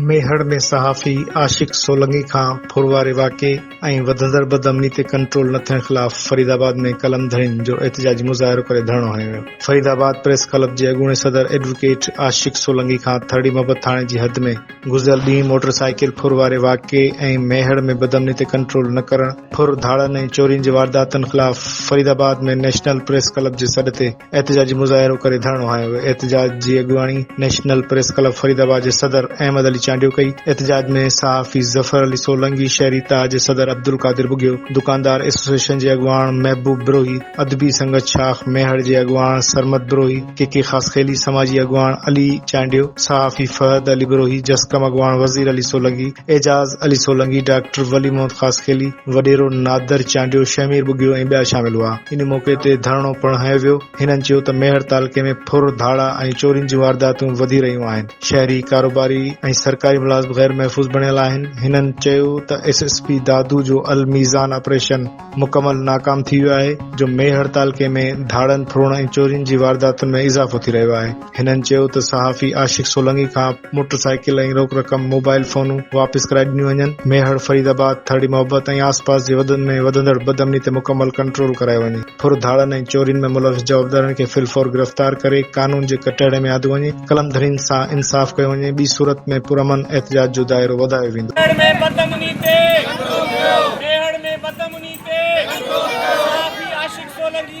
ميهڙ ۾ صحافي عاشق سولنگي کان ڦر واري واقعي ۽ وڌندڙ بدامني تي ڪنٽرول نه ٿيڻ خلاف فريد آباد ۾ قلمڌرين جو احتجاجي مظاهرو ڪري ڌرڻو هنيو ويو. فريد آباد پريس ڪلب جي اڳوڻي صدر ايڊووڪيٽ عاشق سولنگي کان ٿرڙي محبت ٿاڻي جي حد ۾، گذريل ڏينهن موٽر سائيڪل ڦر واري واقعي ۽ ميهڙ ۾ بدامني تي ڪنٽرول نه ڪرڻ، ڦر ڌاڙن ۽ چورين جي وارداتن خلاف Faridabad ۾ national press club جي سڏ تي، احتجاجي مظاهرو ڪري ڌرڻو هنيو ويو احتجاج جي اڳواڻي national press club Faridabad جي صدر احمد علي چانڊيو ڪئي احتجاج ۾ صحافي ظفر علي سولنگي شهري تاء جي صدر عبدالقادر ٻگهيو دڪاندار ايسوسيئيشن جي اڳواڻ محبوب بروهي ادبي سنگت شاخ ميهڙ جي اڳواڻ سرمد بروهي ڪي ڪي خاصخيلي سماجي اڳواڻ علي چانڊيو صحافي فهد علي بروهي جسقم اڳواڻ وزير علي سولنگي اعجاز علي سولنگي ڊاڪٽر ولي محمد خاصخيلي وڏيرو نادر چانڊيو، شهمير ٻگهيو ۽ ٻيا شامل هئا. ان موقعي تي ڌرڻو پڻ هنيو ويو. هنن چيو ته ميهڙ تعلقي ۾ ڦر، ڌاڙا ۽ چورين جون وارداتون وڌي رهيون آهن. شهري، ڪاروباري ۽ سرڪاري ملازم غير محفوظ بڻيل آهن. هنن چيو ته ايس ايس پي دادو جو الميزان آپريشن مڪمل ناڪام ٿي ويو آهي جو ميهڙ تعلقي ۾ ڌاڙن، ڦرن ۽ چورين جي وارداتن ۾ اضافو ٿي رهيو آهي. هنن چيو ته صحافي عاشق سولنگي کان موٽر سائيڪل ۽ روڪ رقم موبائل فونون واپس ڪرائي ڏنيون وڃن، ميهڙ، فريد آباد، ٿرڙي محبت ۽ آس پاس جي وڌن ۾ وڌندڙ بدامني تي مڪمل ڪنٽرول ڪرايو وڃي، ڦر ڌاڙن ۽ چورين ۾ ملوث جوابدارن کي في الفور گرفتار ڪري قانون جي ڪٽهڙي ۾ آندو وڃي، قلم ڌرين سان انصاف ڪيو وڃي، ٻي صورت ۾ پرامن احتجاج جو دائرو وڌايو ويندو. ٿرڙ ۾ بدامني تي ڪنٽرول ڪيو. ميهڙ ۾ بدامني تي ڪنٽرول ڪيو. صحافي عاشق سولنگي.